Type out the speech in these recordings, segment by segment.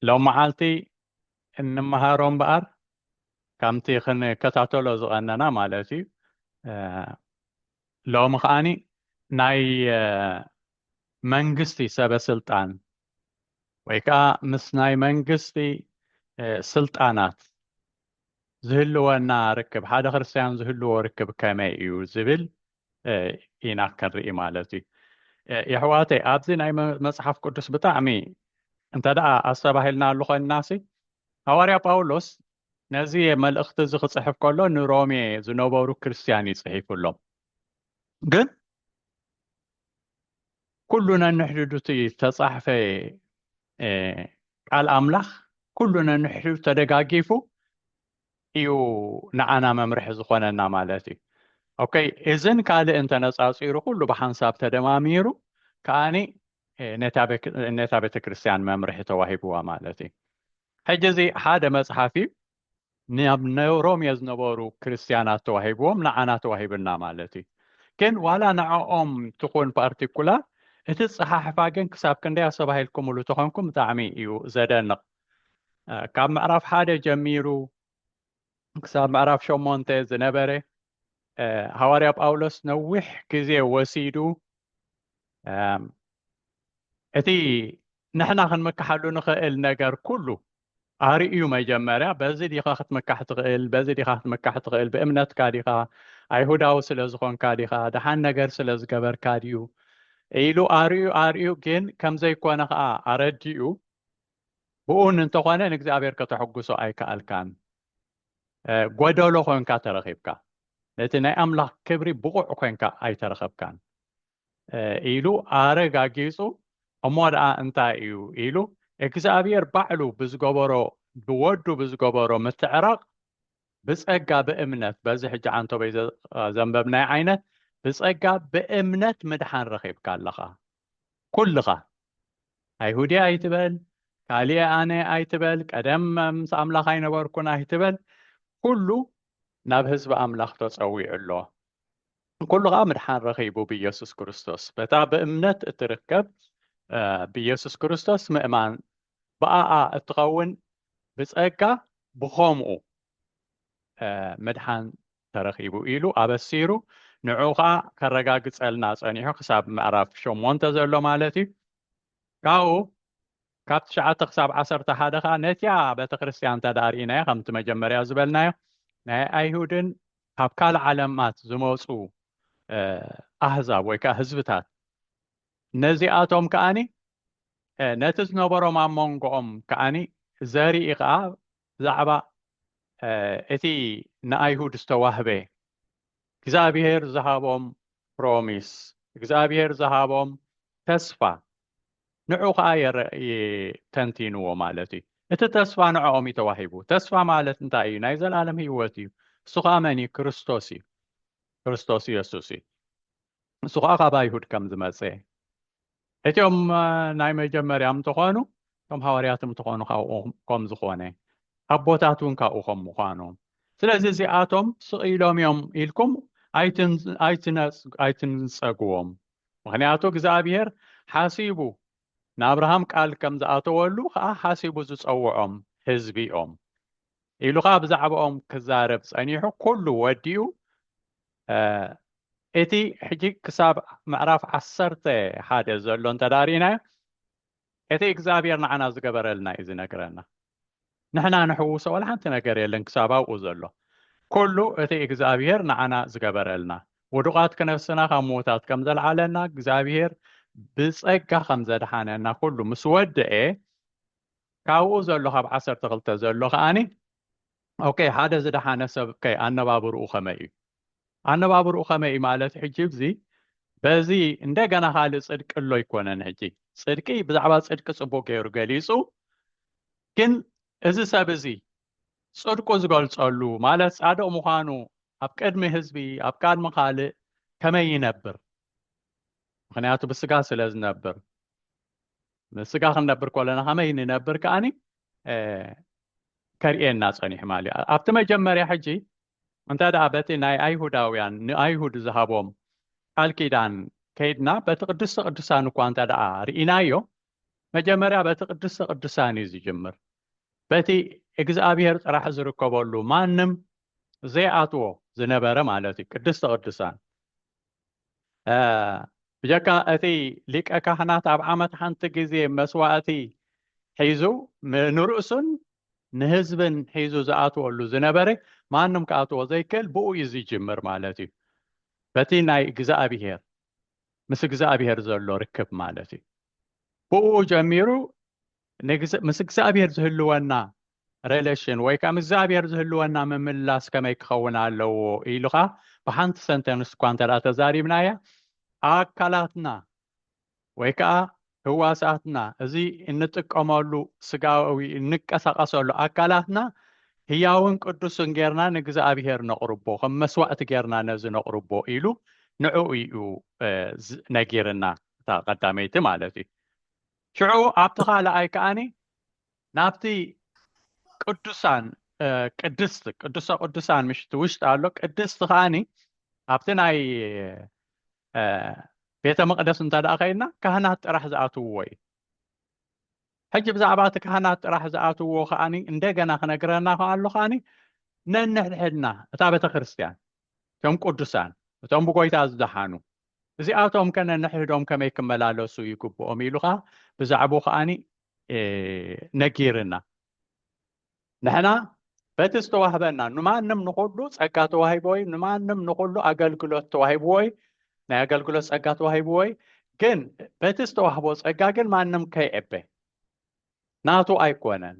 ሎምዓልቲ እንመሃሮ እምበኣር ከምቲ ክንከታተሎ ዝቐነና ማለት እዩ ሎሚ ከዓኒ ናይ መንግስቲ ሰበ ስልጣን ወይ ከዓ ምስ ናይ መንግስቲ ስልጣናት ዝህልወና ርክብ ሓደ ክርስትያን ዝህልዎ ርክብ ከመይ እዩ ዝብል ኢና ከርኢ ማለት እዩ የሕዋተይ ኣብዚ ናይ መፅሓፍ ቅዱስ ብጣዕሚ እንተ ደኣ ኣስተባሂልና ኣሉ ኮይንናሲ ሃዋርያ ጳውሎስ ነዚ መልእኽቲ እዚ ክፅሕፍ ከሎ ንሮሜ ዝነበሩ ክርስትያን እዩ ፅሒፉሎም ግን ኩሉ ነንሕድዱ እቲ ዝተፃሕፈ ቃል ኣምላኽ ኩሉ ነንሕድዱ ተደጋጊፉ እዩ ንዓና መምርሒ ዝኾነና ማለት እዩ ኦከ እዝን ካልእ እንተነፃፂሩ ኩሉ ብሓንሳብ ተደማሚሩ ከዓኒ ነታ ቤተ ክርስቲያን መምርሒ ተዋሂብዋ ማለት እዩ ሕጂ እዚ ሓደ መፅሓፍ እዩ ናብ ሮሜ ዝነበሩ ክርስትያናት ተዋሂብዎም ንዓና ተዋሂብና ማለት እዩ ግን ዋላ ንዕኦም ትኹን ፓርቲኩላር እቲ ፀሓሕፋ ግን ክሳብ ክንደይ ኣሰባሂልኩምሉ ተኾንኩም ብጣዕሚ እዩ ዘደንቕ ካብ ምዕራፍ ሓደ ጀሚሩ ክሳብ ምዕራፍ ሸሞንተ ዝነበረ ሃዋርያ ጳውሎስ ነዊሕ ግዜ ወሲዱ እቲ ንሕና ክንምካሓሉ ንኽእል ነገር ኩሉ ኣርእዩ መጀመርያ በዚ ዲኻ ክትምካሕ ትኽእል በዚ ዲኻ ክትምካሕ ትኽእል ብእምነትካ ዲኻ ኣይሁዳዊ ስለ ዝኾንካ ዲኻ ደሓን ነገር ስለ ዝገበርካ ድዩ ኢሉ ኣርእዩ ኣርእዩ ግን ከም ዘይኮነ ከዓ ኣረዲኡ ብኡን እንተኾነ ንእግዚኣብሔር ከተሕጉሶ ኣይከኣልካን ጎደሎ ኮንካ ተረኺብካ ነቲ ናይ ኣምላኽ ክብሪ ብቑዕ ኮንካ ኣይተረኸብካን ኢሉ ኣረጋጊጹ እሞ ደኣ እንታይ እዩ ኢሉ እግዚኣብሔር ባዕሉ ብዝገበሮ ብወዱ ብዝገበሮ ምትዕራቕ ብጸጋ ብእምነት በዚ ሕጂ ዓንቶበይ ዘንበብናይ ዓይነት ብጸጋ ብእምነት ምድሓን ረኺብካ ኣለኻ ኩልኻ ኣይሁድየ ኣይትበል፣ ካልኤ ኣነ ኣይትበል፣ ቀደም ምስ ኣምላኽ ኣይነበርኩን ኣይትበል፣ ኩሉ ናብ ህዝቢ ኣምላኽ ተጸዊዑ ኣሎ። ኩሉ ኸኣ ምድሓን ረኺቡ ብኢየሱስ ክርስቶስ። በታ ብእምነት እትርከብ ብኢየሱስ ክርስቶስ ምእማን ብኣኣ እትኸውን ብጸጋ ብኸምኡ ምድሓን ተረኺቡ ኢሉ ኣበሲሩ ንዑ ከኣ ከረጋግጸልና ጸኒሑ ክሳብ ምዕራፍ ሸሞንተ ዘሎ ማለት እዩ ካብኡ ካብ ትሽዓተ ክሳብ ዓሰርተ ሓደ ከዓ ነቲያ ቤተ ክርስቲያን እንተ ደኣ ርኢናዮ ከምቲ መጀመርያ ዝበልናዮ ናይ ኣይሁድን ካብ ካልእ ዓለማት ዝመፁ ኣህዛብ ወይ ከዓ ህዝብታት ነዚኣቶም ከዓኒ ነቲ ዝነበሮም ኣብ መንጎኦም ከዓኒ ዘርኢ ከዓ ብዛዕባ እቲ ንኣይሁድ ዝተዋህበ እግዚኣብሄር ዝሃቦም ፕሮሚስ፣ እግዚኣብሄር ዝሃቦም ተስፋ፣ ንዑ ከኣ ተንቲንዎ ማለት እዩ። እቲ ተስፋ ንዕኦም እዩ ተዋሂቡ። ተስፋ ማለት እንታይ እዩ? ናይ ዘልኣለም ህይወት እዩ። እሱ ከኣ መን እዩ? ክርስቶስ እዩ። ክርስቶስ የሱስ እዩ። ንሱ ከዓ ካብ ኣይሁድ ከም ዝመፀ እቲኦም ናይ መጀመርያ ምተኾኑ እቶም ሃዋርያት ምተኾኑ ካብኡ ከም ዝኾነ ኣቦታት እውን ካብኡ ከም ምዃኖም ስለዚ እዚኣቶም ስቒሎም እዮም ኢልኩም ኣይትንፀግዎም ምክንያቱ እግዚኣብሄር ሓሲቡ ንኣብርሃም ቃል ከም ዝኣተወሉ ከዓ ሓሲቡ ዝፀውዖም ህዝቢ እዮም ኢሉ ከዓ ብዛዕባኦም ክዛረብ ፀኒሑ ኩሉ ወዲኡ እቲ ሕጂ ክሳብ ምዕራፍ ዓሰርተ ሓደ ዘሎ እንተ ርኢናዮ እቲ እግዚኣብሔር ንዓና ዝገበረልና እዩ ዝነግረና ንሕና ንሕውሶ ወላ ሓንቲ ነገር የለን ክሳብ ኣብኡ ዘሎ ኩሉ እቲ እግዚኣብሔር ንዓና ዝገበረልና ውዱቓት ክነፍስና ካብ ምዉታት ከም ዘልዓለና እግዚኣብሔር ብጸጋ ከም ዘድሓነና ኩሉ ምስ ወድኤ ካብኡ ዘሎ ካብ ዓሰርተ ክልተ ዘሎ ከዓኒ ኦኬ ሓደ ዝደሓነ ሰብ ከ ኣነባብርኡ ከመይ እዩ ኣነባብርኡ ከመይ እዩ ማለት ሕጂ እዚ በዚ እንደገና ካልእ ጽድቂ ኣሎ ኣይኮነን ሕጂ ጽድቂ ብዛዕባ ጽድቂ ጽቡቅ ገይሩ ገሊጹ ግን እዚ ሰብ እዚ ጽድቁ ዝገልጸሉ ማለት ጻድቅ ምዃኑ ኣብ ቅድሚ ህዝቢ ኣብ ቅድሚ ካልእ ከመይ ይነብር ምክንያቱ ብስጋ ስለ ዝነብር ምስጋ ክንነብር ከለና ከመይ ንነብር ከዓኒ ከርእየና ፀኒሑ ማለት እዩ ኣብቲ መጀመርያ ሕጂ እንተ ደኣ በቲ ናይ ኣይሁዳውያን ንኣይሁድ ዝሃቦም ቃል ኪዳን ከይድና በቲ ቅድስተ ቅዱሳን እኳ እንተ ደኣ ርኢናዮ መጀመርያ በቲ ቅድስተ ቅዱሳን እዩ ዝጅምር በቲ እግዚኣብሄር ጥራሕ ዝርከበሉ ማንም ዘይኣትዎ ዝነበረ ማለት እዩ ቅድስተ ቅዱሳን ብጀካ እቲ ሊቀ ካህናት ኣብ ዓመት ሓንቲ ግዜ መስዋእቲ ሒዙ ንርእሱን ንህዝብን ሒዙ ዝኣትወሉ ዝነበረ ማንም ክኣትዎ ዘይክእል ብኡ እዩ ዝጅምር ማለት እዩ በቲ ናይ እግዚኣብሄር ምስ እግዚኣብሄር ዘሎ ርክብ ማለት እዩ ብኡ ጀሚሩ ምስ እግዚኣብሄር ዝህልወና ሬሌሽን ወይ ከዓ ምስ እግዚኣብሔር ዝህልወና ምምላስ ከመይ ክኸውን ኣለዎ ኢልኻ ብሓንቲ ሰንተንስ እኳ እንተ ተዛሪብናያ ኣካላትና ወይ ከዓ ህዋሳትና እዚ እንጥቀመሉ ስጋዊ እንቀሳቀሰሉ ኣካላትና ህያውን ቅዱስን ጌርና ንእግዚኣብሔር ነቕርቦ ከም መስዋዕቲ ጌርና ነዚ ነቕርቦ ኢሉ ንዕኡ እዩ ነጊርና እታ ቀዳመይቲ ማለት እዩ ሽዑ ኣብቲ ካልኣይ ከዓኒ ናብቲ ቅዱሳን ቅድስቲ ቅዱሰ ቅዱሳን ምሽቲ ውሽጢ ኣሎ ቅድስቲ ከዓኒ ኣብቲ ናይ ቤተ መቅደስ እንተ ደኣ ከይድና ካህናት ጥራሕ ዝኣትውዎ እዩ ሕጂ ብዛዕባ እቲ ካህናት ጥራሕ ዝኣትውዎ ከዓኒ እንደገና ክነግረና ከኣሉ ከዓኒ ነንሕድሕድና እታ ቤተ ክርስትያን እቶም ቅዱሳን እቶም ብጎይታ ዝደሓኑ እዚኣቶም ከ ነንሕድሕዶም ከመይ ክመላለሱ ይግብኦም ኢሉ ከዓ ብዛዕባኡ ከዓኒ ነጊርና ንሕና በቲ ዝተዋህበና ንማንም ንኩሉ ፀጋ ተዋሂብዎ እዩ ንማንም ንኩሉ ኣገልግሎት ተዋሂብዎ እዩ ናይ ኣገልግሎት ፀጋ ተዋሂብዎ እዩ ግን በቲ ዝተዋህቦ ፀጋ ግን ማንም ከይዕበ ናቱ ኣይኮነን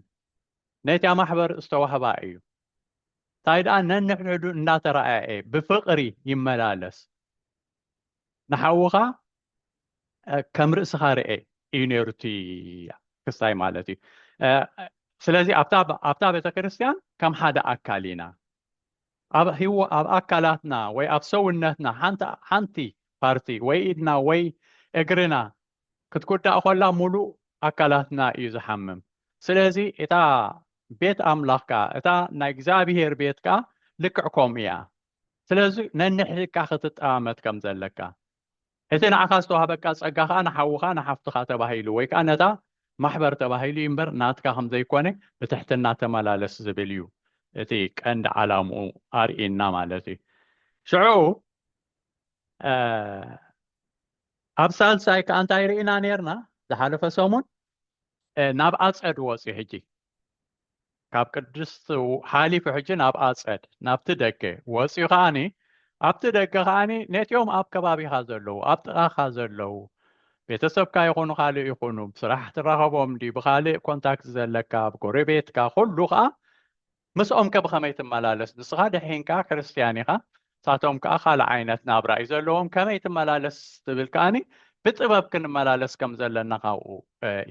ነቲ ማሕበር ዝተዋህባ እዩ እንታይ ደኣ ነንሕድሕዱ እናተረኣየ ብፍቕሪ ይመላለስ ንሓውኻ ከም ርእስኻ ርኤ እዩ ነይሩ እቲ ክስታይ ማለት እዩ ስለዚ ኣብታ ቤተ ክርስቲያን ከም ሓደ ኣካል ኢና ኣብ ህዎ ኣብ ኣካላትና ወይ ኣብ ሰውነትና ሓንቲ ፓርቲ ወይ ኢድና ወይ እግርና ክትጉዳእ ኮላ ሙሉእ ኣካላትና እዩ ዝሓምም ስለዚ እታ ቤት ኣምላኽ ከዓ እታ ናይ እግዚኣብሄር ቤት ከዓ ልክዕ ከምኡ እያ ስለዚ ነንሕድካ ክትጠማመት ከም ዘለካ እቲ ንዓኻ ዝተዋህበካ ጸጋ ከኣ ንሓውኻ ንሓፍትኻ ተባሂሉ ወይ ከኣ ነታ ማሕበር ተባሂሉ እዩ እምበር ናትካ ከም ዘይኮነ ብትሕትና ተመላለስ ዝብል እዩ እቲ ቀንዲ ዓላምኡ ኣርእና ማለት እዩ ሽዑ ኣብ ሳልሳይ ከኣ እንታይ ርኢና ነርና ዝሓለፈ ሰሙን ናብ ኣጸድ ወጽ ሕጂ ካብ ቅድስት ሓሊፉ ሕጂ ናብ ኣጸድ ናብቲ ደገ ወፂኡ ከዓኒ ኣብቲ ደገ ከዓኒ ነቲኦም ኣብ ከባቢኻ ዘለዉ ኣብ ጥቓኻ ዘለዉ ቤተሰብካ ይኹኑ ካልእ ይኹኑ ብስራሕ ትራኸቦም ዲ ብካልእ ኮንታክት ዘለካ ኣብ ጎረቤትካ ኩሉ ከዓ ምስኦም ከብኸመይ ትመላለስ ንስኻ ድሒንካ ክርስትያን ኢኻ ንሳቶም ከኣ ካልእ ዓይነት ናብራ እዩ ዘለዎም ከመይ ትመላለስ ትብል ከኣኒ ብጥበብ ክንመላለስ ከም ዘለና ካብኡ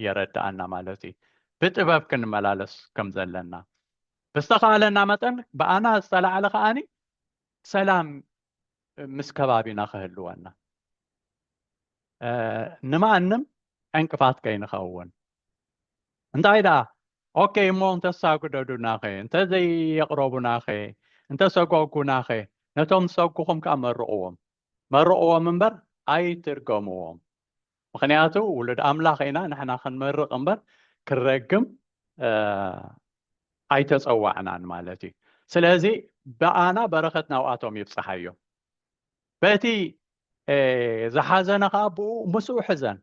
የረድኣና ማለት እዩ ብጥበብ ክንመላለስ ከም ዘለና ብዝተኻለና መጠን ብኣና ዝተላዕለ ከኣኒ ሰላም ምስ ከባቢና ክህልወና ንማንም ዕንቅፋት ከይንኸውን እንታይ ደኣ ኦኬይ እሞ እንተሳግደዱናኸ እንተዘይየቕረቡናኸ እንተሰጎጉናኸ ነቶም ዝሰጉኹም ከኣ መርቕዎም መርቕዎም እምበር ኣይትርገምዎም ምክንያቱ ውሉድ ኣምላኽ ኢና ንሕና ክንመርቕ እምበር ክረግም ኣይተፀዋዕናን ማለት እዩ ስለዚ ብኣና በረኸት ናብኣቶም ይብፅሓዮ በቲ ዝሓዘነ ከዓ ብኡ ምስኡ ሕዘን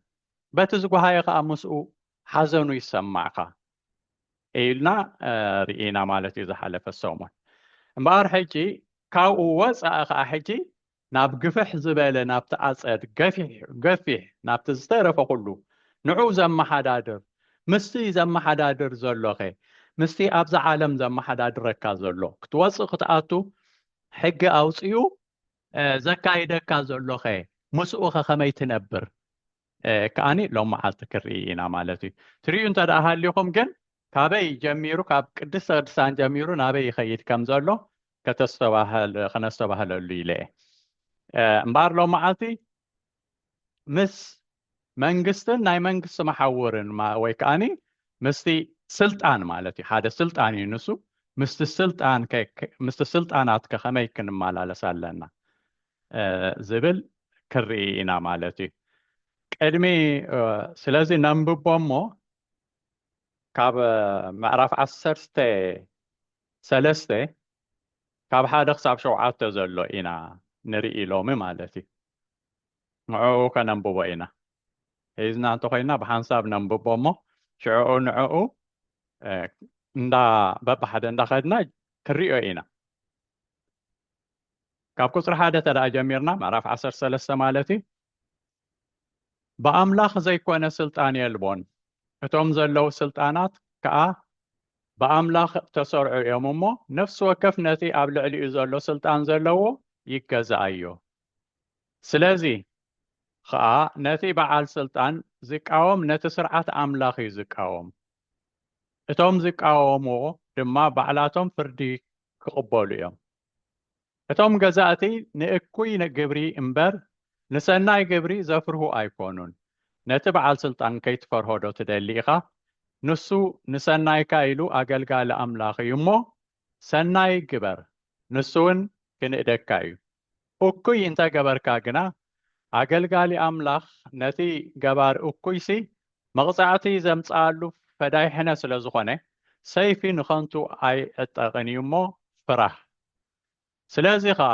በቲ ዝጓሃየ ከኣ ምስኡ ሓዘኑ ይሰማዕካ ኢልና ርኢና ማለት እዩ ዝሓለፈ ሰሙን እምበኣር ሕጂ ካብኡ ወፃኢ ከዓ ሕጂ ናብ ግፍሕ ዝበለ ናብቲ ኣፀድ ገፊሕ ገፊሕ ናብቲ ዝተረፈ ኩሉ ንዑ ዘመሓዳድር ምስቲ ዘመሓዳድር ዘሎኸ ምስቲ ኣብዚ ዓለም ዘመሓዳድረካ ዘሎ ክትወፅእ ክትኣቱ ሕጊ ኣውፅኡ ዘካይደካ ዘሎኸ ምስኡኸ ከመይ ትነብር ከኣኒ ሎም መዓልቲ ክርኢ ኢና ማለት እዩ ትርእዩ እንተ ደኣ ሃሊኹም ግን ካበይ ጀሚሩ ካብ ቅድስተ ቅድሳን ጀሚሩ ናበይ ይኸይድ ከም ዘሎ ከተስተባህል ከነስተባህለሉ ኢለ እየ እምበኣር ሎም መዓልቲ ምስ መንግስትን ናይ መንግስቲ መሓውርን ወይ ከኣኒ ምስቲ ስልጣን ማለት እዩ ሓደ ስልጣን እዩ ንሱ ምስቲ ስልጣን ምስቲ ስልጣናት ከኸመይ ክንመላለስ ኣለና ዝብል ክርኢ ኢና ማለት እዩ ቅድሚ ስለዚ ነንብቦ እሞ ካብ ምዕራፍ ዓሰርተ ሰለስተ ካብ ሓደ ክሳብ ሸውዓተ ዘሎ ኢና ንርኢ ሎሚ ማለት እዩ ንዕኡ ከነንብቦ ኢና። ሒዝና እንተኾይና ብሓንሳብ ነንብቦ እሞ ሽዕኡ ንዕኡ እንዳ በብሓደ እንዳኸድና ክንሪኦ ኢና። ካብ ቁፅሪ ሓደ ተደኣ ጀሚርና ምዕራፍ ዓሰርተ ሰለስተ ማለት እዩ ብኣምላኽ ዘይኮነ ስልጣን የልቦን እቶም ዘለዉ ስልጣናት ከዓ ብኣምላኽ ተሰርዑ እዮም እሞ ነፍሲ ወከፍ ነቲ ኣብ ልዕሊኡ ዘሎ ስልጣን ዘለዎ ይገዛኣዮ ስለዚ ኸኣ ነቲ በዓል ስልጣን ዚቃወም ነቲ ስርዓት ኣምላኽ እዩ ዚቃወም፣ እቶም ዚቃወምዎ ድማ ባዕላቶም ፍርዲ ኪቕበሉ እዮም። እቶም ገዛእቲ ንእኩይ ግብሪ እምበር ንሰናይ ግብሪ ዘፍርሁ ኣይኰኑን። ነቲ በዓል ስልጣን ከይትፈርሆዶ ትደሊ ኢኻ? ንሱ ንሰናይካ ኢሉ ኣገልጋሊ ኣምላኽ እዩ እሞ፣ ሰናይ ግበር፣ ንሱውን ኪንእደካ እዩ። እኩይ እንተ ገበርካ ግና፣ ኣገልጋሊ ኣምላኽ ነቲ ገባሪ እኩይሲ መቕጻዕቲ ዘምጽኣሉ ፈዳይ ሕነ ስለ ዝኾነ፣ ሰይፊ ንኸንቱ ኣይዕጠቕን እዩ እሞ፣ ፍራህ። ስለዚ ኸኣ፣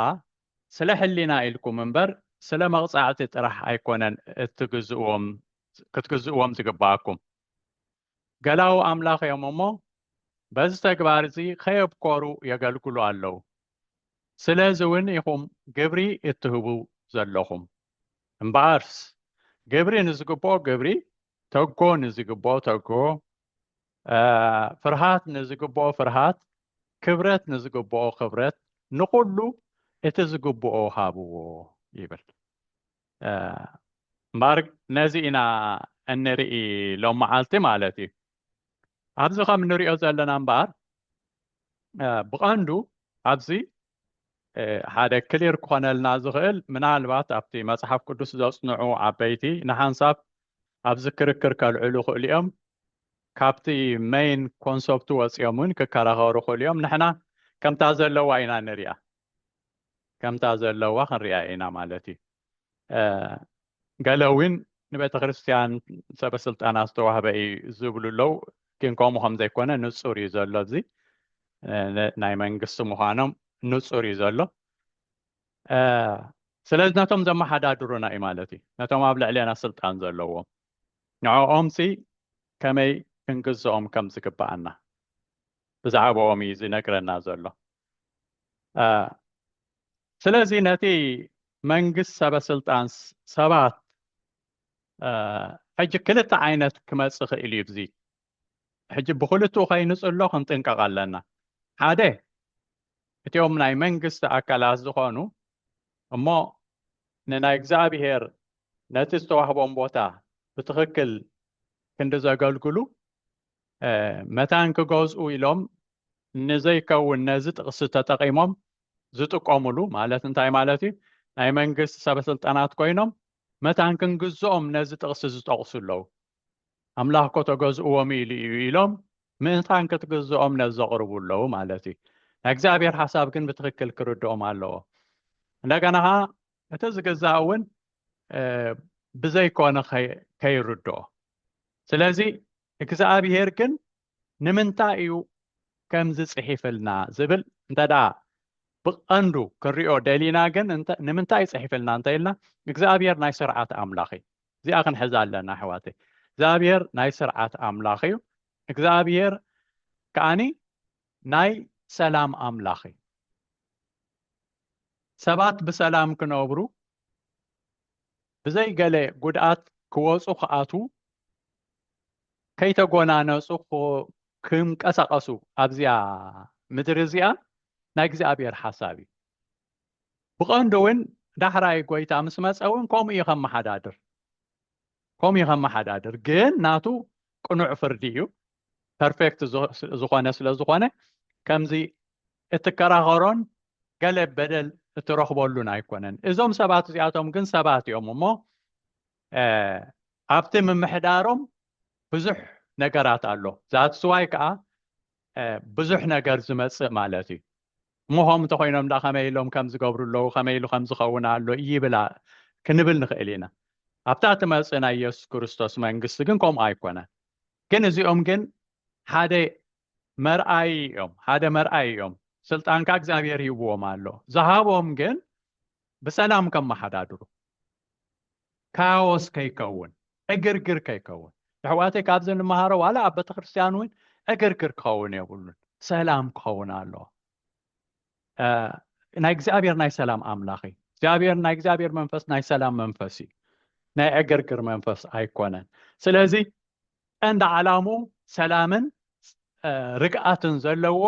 ስለ ሕሊና ኢልኩም እምበር፣ ስለ መቕጻዕቲ ጥራሕ ኣይኮነን እትግዝእዎም ክትግዝእዎም ዝግብኣኩም። ገላዉ ኣምላኽ እዮም እሞ በዚ ተግባር እዚ ከየብኮሩ የገልግሉ ኣለዉ። ስለዚ እውን ኢኹም ግብሪ እትህቡ ዘለኹም። እምበኣርስ ግብሪ ንዝግብኦ ግብሪ፣ ተግሆ ንዝግብኦ ተግሆ፣ ፍርሃት ንዝግብኦ ፍርሃት፣ ክብረት ንዝግብኦ ክብረት፣ ንኹሉ እቲ ዝግብኦ ሃብዎ ይብል። እምበኣር ነዚ ኢና እንርኢ ሎም መዓልቲ ማለት እዩ ኣብዚ ከም እንሪኦ ዘለና እምበኣር ብቐንዱ ኣብዚ ሓደ ክሊር ክኾነልና ዝኽእል ምናልባት ኣብቲ መፅሓፍ ቅዱስ ዘፅንዑ ዓበይቲ ንሓንሳብ ኣብዚ ክርክር ከልዕሉ ክእሉ እዮም ካብቲ መይን ኮንሰፕቱ ወፂኦም እውን ክከራኸሩ ክእሉ እዮም ንሕና ከምታ ዘለዋ ኢና ንሪኣ ከምታ ዘለዋ ክንሪኣ ኢና ማለት እዩ ገለ እውን ንቤተ ክርስትያን ሰበ ስልጣና ዝተዋህበ እዩ ዝብሉ ኣለው ግን ከምኡ ከም ዘይኮነ ንፁር እዩ ዘሎ እዚ ናይ መንግስቲ ምዃኖም ንፁር እዩ ዘሎ ስለዚ ነቶም ዘመሓዳድሩና እዩ ማለት እዩ ነቶም ኣብ ልዕሌና ስልጣን ዘለዎም ንዕኦም ሲ ከመይ ክንግዝኦም ከም ዝግባኣና ብዛዕባኦም እዩ ዝነግረና ዘሎ ስለዚ ነቲ መንግስት ሰበስልጣን ሰባት ሕጂ ክልተ ዓይነት ክመጽእ ክእል እዩ እዚ ሕጂ ብክልትኡ ከይንጽሎ ክንጥንቀቕ ኣለና ሓደ እቲኦም ናይ መንግስቲ ኣካላት ዝኾኑ እሞ ንናይ እግዚኣብሄር ነቲ ዝተዋህቦም ቦታ ብትኽክል ክንዲ ዘገልግሉ መታን ክገዝኡ ኢሎም ንዘይከውን ነዚ ጥቕሲ ተጠቒሞም ዝጥቀሙሉ ማለት እንታይ ማለት እዩ? ናይ መንግስቲ ሰበስልጣናት ኮይኖም መታን ክንግዝኦም ነዚ ጥቕሲ ዝጠቕሱ ኣለዉ። ኣምላኽ እኮ ተገዝእዎም ኢሉ እዩ ኢሎም ምእንታን ክትግዝኦም ነዚ ዘቕርቡ ኣለዉ ማለት እዩ። ናይ እግዚኣብሔር ሓሳብ ግን ብትኽክል ክርድኦም ኣለዎ። እንደገና ኸዓ እቲ ዝግዛእ እውን ብዘይኮነ ከይርድኦ ስለዚ እግዝኣብሄር ግን ንምንታይ እዩ ከምዚ ጽሒፍልና ዝብል እንተ ብቐንዱ ክንሪኦ ደሊና ግን ንምንታይ እዩ ጽሒፍልና እንተ ኢልና እግዚኣብሄር ናይ ስርዓት ኣምላኽ እዩ እዚኣ ክንሕዛ ኣለና ኣሕዋተይ እግዚኣብሄር ናይ ስርዓት ኣምላኽ እዩ እግዚኣብሄር ከዓኒ ናይ ሰላም ኣምላኽ እዩ ሰባት ብሰላም ክነብሩ ብዘይ ገለ ጉድኣት ክወጹ ክኣትዉ ከይተጎናነጹ ክምቀሳቐሱ ኣብዚኣ ምድሪ እዚኣ ናይ እግዚኣብሔር ሓሳብ እዩ ብቐንዱ እውን ዳሕራይ ጎይታ ምስ መፀ እውን ከምኡ እዩ ከመሓዳድር ከምኡ እዩ ከመሓዳድር ግን ናቱ ቅኑዕ ፍርዲ እዩ ፐርፌክት ዝኾነ ስለ ዝኾነ ከምዚ እትከራኸሮን ገለ በደል እትረኽበሉን ኣይኮነን እዞም ሰባት እዚኣቶም ግን ሰባት እዮም እሞ ኣብቲ ምምሕዳሮም ብዙሕ ነገራት ኣሎ ዛትስዋይ ከዓ ብዙሕ ነገር ዝመጽእ ማለት እዩ ሞሆም እንተኮይኖም ዳ ከመይ ኢሎም ከም ዝገብሩ ኣለዉ ከመይ ኢሉ ከም ዝኸውን ኣሎ ይብላ ክንብል ንኽእል ኢና ኣብታ ትመጽእ ናይ የሱስ ክርስቶስ መንግስቲ ግን ከምኡ ኣይኮነን ግን እዚኦም ግን ሓደ መርኣይ እዮም ሓደ መርኣይ እዮም ስልጣንካ እግዚኣብሔር ይብዎም ኣሎ ዝሃቦም ግን ብሰላም ከመሓዳድሩ ካዎስ ከይከውን ዕግርግር ከይከውን ኣሕዋተይ ካብዚ ንመሃሮ ዋላ ኣብ ቤተክርስትያን እውን ዕግርግር ክኸውን የብሉን ሰላም ክኸውን ኣለዎ ናይ እግዚኣብሔር ናይ ሰላም ኣምላኽ እዩ እግዚኣብሔር ናይ እግዚኣብሔር መንፈስ ናይ ሰላም መንፈስ እዩ ናይ ዕግርግር መንፈስ ኣይኮነን ስለዚ ቀንዲ ዓላሙ ሰላምን ርግኣትን ዘለዎ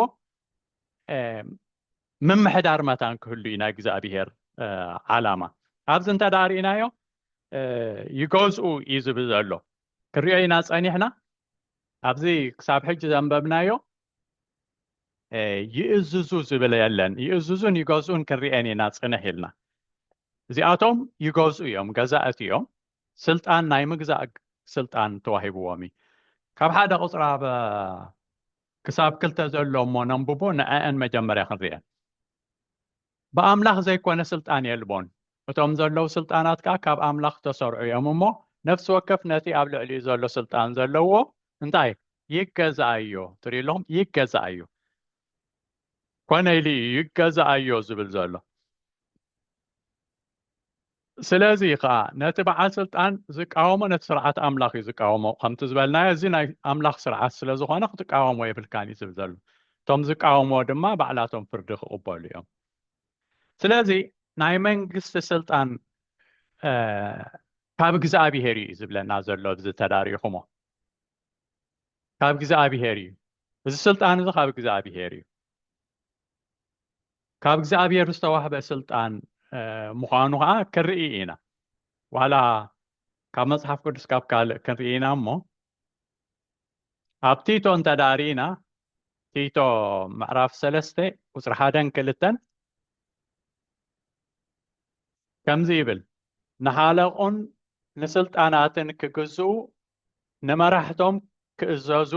ምምሕዳር መታን ክህሉ እዩ ናይ እግዚኣብሄር ዓላማ ኣብዚ እንተ ርእናዮ ይገዝኡ እዩ ዝብል ዘሎ ክንሪኦ ኢና ጸኒሕና ኣብዚ ክሳብ ሕጂ ዘንበብናዮ ይእዝዙ ዝብል የለን ይእዝዙን ይገዝኡን ክንርኤን ኢና ፅንሕ ኢልና እዚኣቶም ይገዝኡ እዮም ገዛእቲ እዮም ስልጣን ናይ ምግዛእ ስልጣን ተዋሂብዎም እዩ ካብ ሓደ ቁፅራ ክሳብ ክልተ ዘሎ እሞ ነንብቦ ንዐዐን መጀመርያ ክንርኤን። ብኣምላኽ ዘይኮነ ስልጣን የልቦን። እቶም ዘለዉ ስልጣናት ከኣ ካብ ኣምላኽ ዝተሰርዑ እዮም እሞ ነፍሲ ወከፍ ነቲ ኣብ ልዕሊኡ ዘሎ ስልጣን ዘለዎ እንታይ ይገዛኣዮ ትርኢ ኣለኹም ይገዛኣዮ ኮነ ኢሉ እዩ ይገዛኣዮ ዝብል ዘሎ ስለዚ ኸኣ ነቲ በዓል ስልጣን ዝቃወሞ ነቲ ስርዓት ኣምላኽ እዩ ዝቃወሞ ከምቲ ዝበልናዮ እዚ ናይ ኣምላኽ ስርዓት ስለ ዝኾነ ክትቃወሞ የብልካን እዩ ዝብል ዘሎ እቶም ዝቃወምዎ ድማ ባዕላቶም ፍርዲ ክቕበሉ እዮም ስለዚ ናይ መንግስቲ ስልጣን ካብ እግዚኣብሄር እዩ ዝብለና ዘሎ እዚ ተዳሪኹሞ ካብ እግዚኣብሄር እዩ እዚ ስልጣን እዚ ካብ እግዚኣብሄር እዩ ካብ እግዚኣብሔር ዝተዋህበ ስልጣን ምዃኑ ከዓ ክንርኢ ኢና ዋላ ካብ መጽሓፍ ቅዱስ ካብ ካልእ ክንርኢ ኢና እሞ ኣብ ቲቶ እንተ ዳሪኢና ቲቶ ምዕራፍ ሰለስተ ቁፅሪ ሓደን ክልተን ከምዚ ይብል ንሃለቑን ንስልጣናትን ክግዝኡ ንመራሕቶም ክእዘዙ፣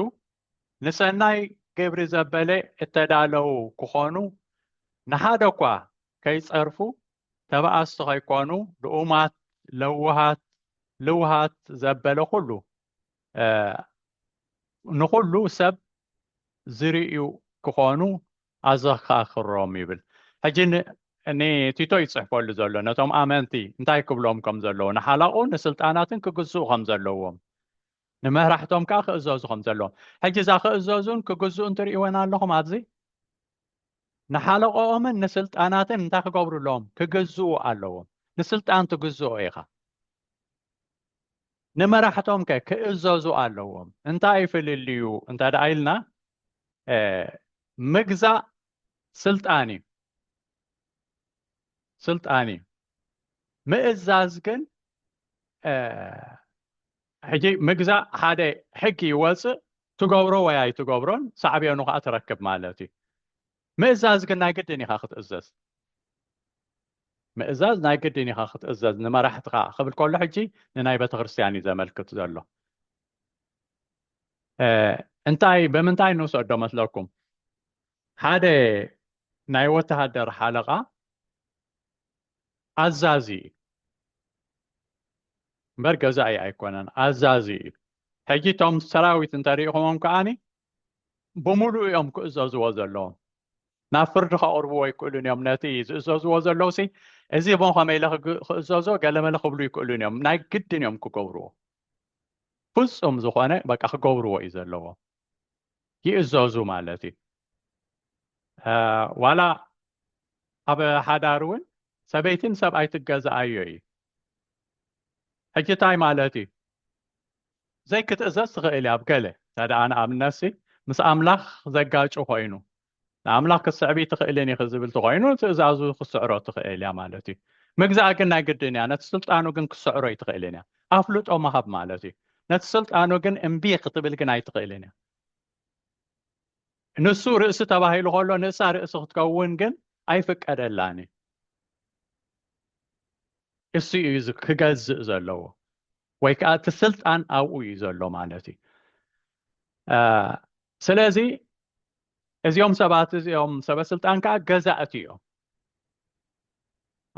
ንሰናይ ግብሪ ዘበለ እተዳለዉ ክኾኑ፣ ንሓደ እኳ ከይጸርፉ፣ ተበኣስቲ ከይኮኑ፣ ልኡማት፣ ለውሃት፣ ልውሃት ዘበለ ኩሉ ንኹሉ ሰብ ዝርእዩ ክኾኑ ኣዘካክሮም ይብል ሕጂ ንቲቶ እዩ ዝጽሕፈሉ ዘሎ ነቶም ኣመንቲ እንታይ ክብሎም ከም ዘለዎ ንሓላቑ ንስልጣናትን ክግዝኡ ከም ዘለዎም ንመራሕቶም ከዓ ክእዘዙ ከም ዘለዎም ሕጂ እዛ ክእዘዙን ክግዝኡን ትርእወን ኣለኹም ኣብዚ ንሓለቆኦምን ንስልጣናትን እንታይ ክገብሩ ኣለዎም ክግዝኡ ኣለዎም ንስልጣን ትግዝኦ ኢኻ ንመራሕቶም ከ ክእዘዙ ኣለዎም እንታይ ፍልልዩ እንተ ደኣ ኢልና ምግዛእ ስልጣን እዩ ስልጣን እዩ ምእዛዝ ግን ሕጂ ምግዛእ ሓደ ሕጊ ይወፅእ ትገብሮ ወይ ኣይትገብሮን ሳዕቤኑ ከዓ ትረክብ ማለት እዩ ምእዛዝ ግን ናይ ግድን ኢኻ ክትእዘዝ። ምእዛዝ ናይ ግድን ኢኻ ክትእዘዝ ንመራሕትኻ ክብል ከሎ ሕጂ ንናይ ቤተ ክርስቲያን እዩ ዘመልክት ዘሎ። እንታይ ብምንታይ ንውሰዶ መስለኩም? ሓደ ናይ ወተሃደር ሓለቓ ኣዛዚ እዩ እምበር ገዛኢ ኣይኮነን፣ ኣዛዚ እዩ። ሕጂ እቶም ሰራዊት እንተሪኢኹሞም ከዓኒ ብምሉኡ እዮም ክእዘዝዎ ዘለዎም ናብ ፍርዲ ከቕርብዎ ኣይክእሉን እዮም ነቲ ዝእዘዝዎ ዘለዉ ሲ እዚ ቦ ከመይ ኢለ ክእዘዞ ገለመለ ክብሉ ይክእሉን እዮም ናይ ግድን እዮም ክገብርዎ ፍፁም ዝኾነ በቃ ክገብርዎ እዩ ዘለዎ ይእዘዙ ማለት እዩ ዋላ ኣብ ሓዳር እውን ሰበይትን ሰብኣይ ትገዛኣዮ እዩ ሕጂ እንታይ ማለት እዩ ዘይክትእዘዝ ትኽእል እያ ኣብ ገለ እንተ ደኣ ንኣብነትሲ ምስ ኣምላኽ ዘጋጩ ኮይኑ ንኣምላኽ ክትስዕብ ኣይትኽእልን ኢኺ ዝብል ተኾይኑ ትእዛዙ ክትስዕሮ ትኽእል እያ ማለት እዩ ምግዛእ ግን ናይ ግድን እያ ነቲ ስልጣኑ ግን ክትስዕሮ ኣይትኽእልን እያ ኣፍልጦ ምሃብ ማለት እዩ ነቲ ስልጣኑ ግን እምቢ ክትብል ግን ኣይትኽእልን እያ ንሱ ርእሲ ተባሂሉ ከሎ ንእሳ ርእሲ ክትከውን ግን ኣይፍቀደላን እዩ እሱ እዩ ክገዝእ ዘለዎ ወይ ከዓ እቲ ስልጣን ኣብኡ እዩ ዘሎ ማለት እዩ ስለዚ እዚኦም ሰባት እዚኦም ሰበስልጣን ከዓ ገዛእቲ እዮም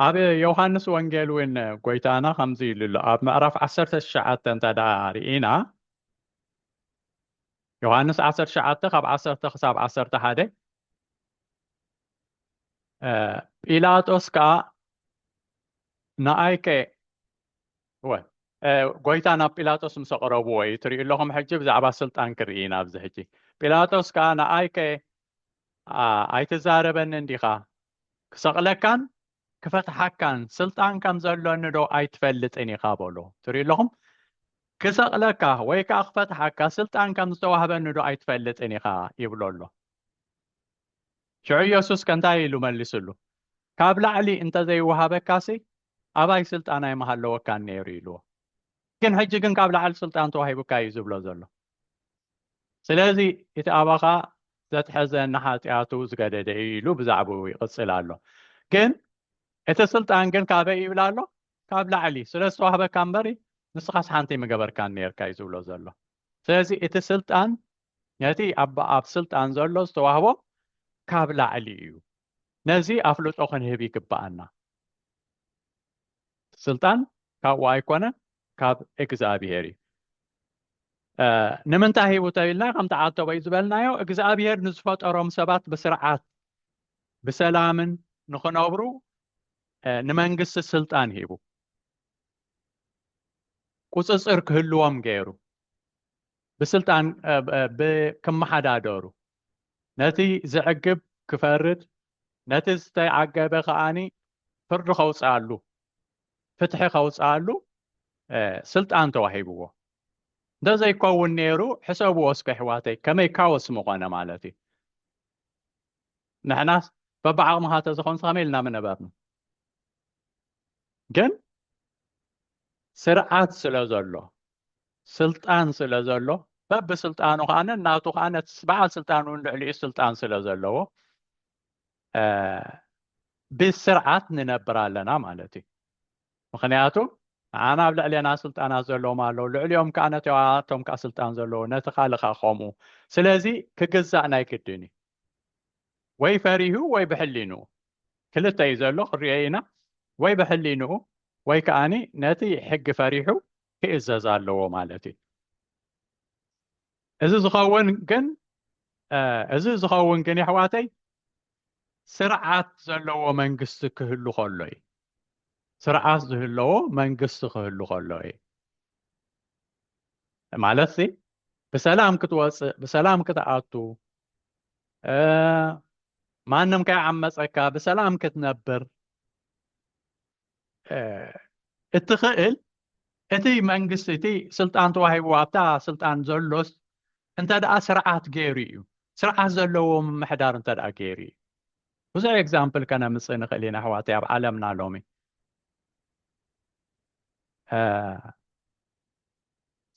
ኣብ ዮሃንስ ወንጌል እውን ጎይታና ከምዚ ኢሉ ኣሎ ኣብ ምዕራፍ 19 እንተ ደኣ ርኢና ዮሃንስ 19 ካብ 1 ክሳብ 11 ጲላጦስ ከዓ ንኣይከ እወ ጎይታ ናብ ጲላጦስ ምስ ኣቕረብዎ እዩ ትሪኡ ኣለኹም ሕጂ ብዛዕባ ስልጣን ክርኢ ኢና ኣብዚ ሕጂ ጲላጦስ ከዓ ንኣይከ ኣይትዛረበኒ እንዲኻ ክሰቕለካን ክፈትሓካን ስልጣን ከም ዘሎኒ ዶ ኣይትፈልጥን ኢኻ በሎ ትሪኡ ኣለኹም ክሰቕለካ ወይ ከዓ ክፈትሓካ ስልጣን ከም ዝተዋህበኒ ዶ ኣይትፈልጥን ኢኻ ይብሎ ኣሎ ሽዑ ኢየሱስ ከንታይ ኢሉ መልስሉ ካብ ላዕሊ እንተዘይወሃበካሲ ኣባይ ስልጣን ኣይምሃለወካን ነይሩ ኢልዎ ግን ሕጂ ግን ካብ ላዕሊ ስልጣን ተዋሂቡካ እዩ ዝብሎ ዘሎ ስለዚ እቲ ኣባኻ ዘትሐዘ ንሓጢኣቱ ዝገደደ እዩ ኢሉ ብዛዕባኡ ይቕጽል ኣሎ ግን እቲ ስልጣን ግን ካበይ ይብል ኣሎ ካብ ላዕሊ ስለ ዝተዋህበካ እምበር ንስኻስ ሓንቲ ምገበርካን ነርካ እዩ ዝብሎ ዘሎ ስለዚ እቲ ስልጣን ነቲ ኣብ ስልጣን ዘሎ ዝተዋህቦ ካብ ላዕሊ እዩ ነዚ ኣፍልጦ ክንህብ ይግብኣና። ስልጣን ካብኡ ኣይኮነን ካብ እግዚኣብሄር እዩ። ንምንታይ ሂቡ ተብልና ከምቲ ዓተበይ ዝበልናዮ እግዚኣብሄር ንዝፈጠሮም ሰባት ብስርዓት ብሰላምን ንክነብሩ ንመንግስቲ ስልጣን ሂቡ ቁፅፅር ክህልዎም ገይሩ ብስልጣን ክመሓዳደሩ ነቲ ዘዕግብ ክፈርድ ነቲ ዝተዓገበ ከኣኒ ፍርዲ ከውጽኣሉ ፍትሒ ከውጽኣሉ ስልጣን ተዋሂብዎ እንተዘይከውን ነይሩ ሕሰብዎ እስከ ኣሕዋተይ ከመይ ካወስ ምኾነ ማለት እዩ ንሕናስ በብዓቕምኻ ተዝኾንስ ከመይ ኢልና ምነበርና ግን ስርዓት ስለ ዘሎ ስልጣን ስለ ዘሎ በብ ስልጣኑ ከዓ ናቱ ከዓ በዓል ስልጣን እውን ልዕሊኡ ስልጣን ስለ ዘለዎ ብስርዓት ንነብር ኣለና ማለት እዩ ምክንያቱ ንዓና ኣብ ልዕሌና ስልጣናት ዘለዎም ኣለዉ ልዕሊኦም ከዓ ነቶም ከዓ ስልጣን ዘለዎ ነቲ ካልእ ከዓ ከምኡ ስለዚ ክግዛእ ናይ ግድን እዩ ወይ ፈሪሁ ወይ ብሕሊኑ ክልተ እዩ ዘሎ ክንሪኦ ኢና ወይ ብሕሊንኡ ወይ ከዓ ነቲ ሕጊ ፈሪሑ ክእዘዝ ኣለዎ ማለት እዩ እዚ ዝኸውን ግን እዚ ዝኸውን ግን የሕዋተይ ስርዓት ዘለዎ መንግስቲ ክህሉ ከሎ እዩ ስርዓት ዝህለዎ መንግስቲ ክህሉ ከሎ እዩ ማለት ሲ ብሰላም ክትወፅእ ብሰላም ክትኣቱ ማንም ከይዓመፀካ ብሰላም ክትነብር እትኽእል እቲ መንግስቲ እቲ ስልጣን ተዋሂቡ ኣብታ ስልጣን ዘሎስ እንተ ደኣ ስርዓት ገይሩ እዩ ስርዓት ዘለዎ ምምሕዳር እንተ ደኣ ገይሩ እዩ ብዙሕ ኤግዛምፕል ከነምፅእ ንኽእል ኢና ኣሕዋተይ ኣብ ዓለምና ሎሚ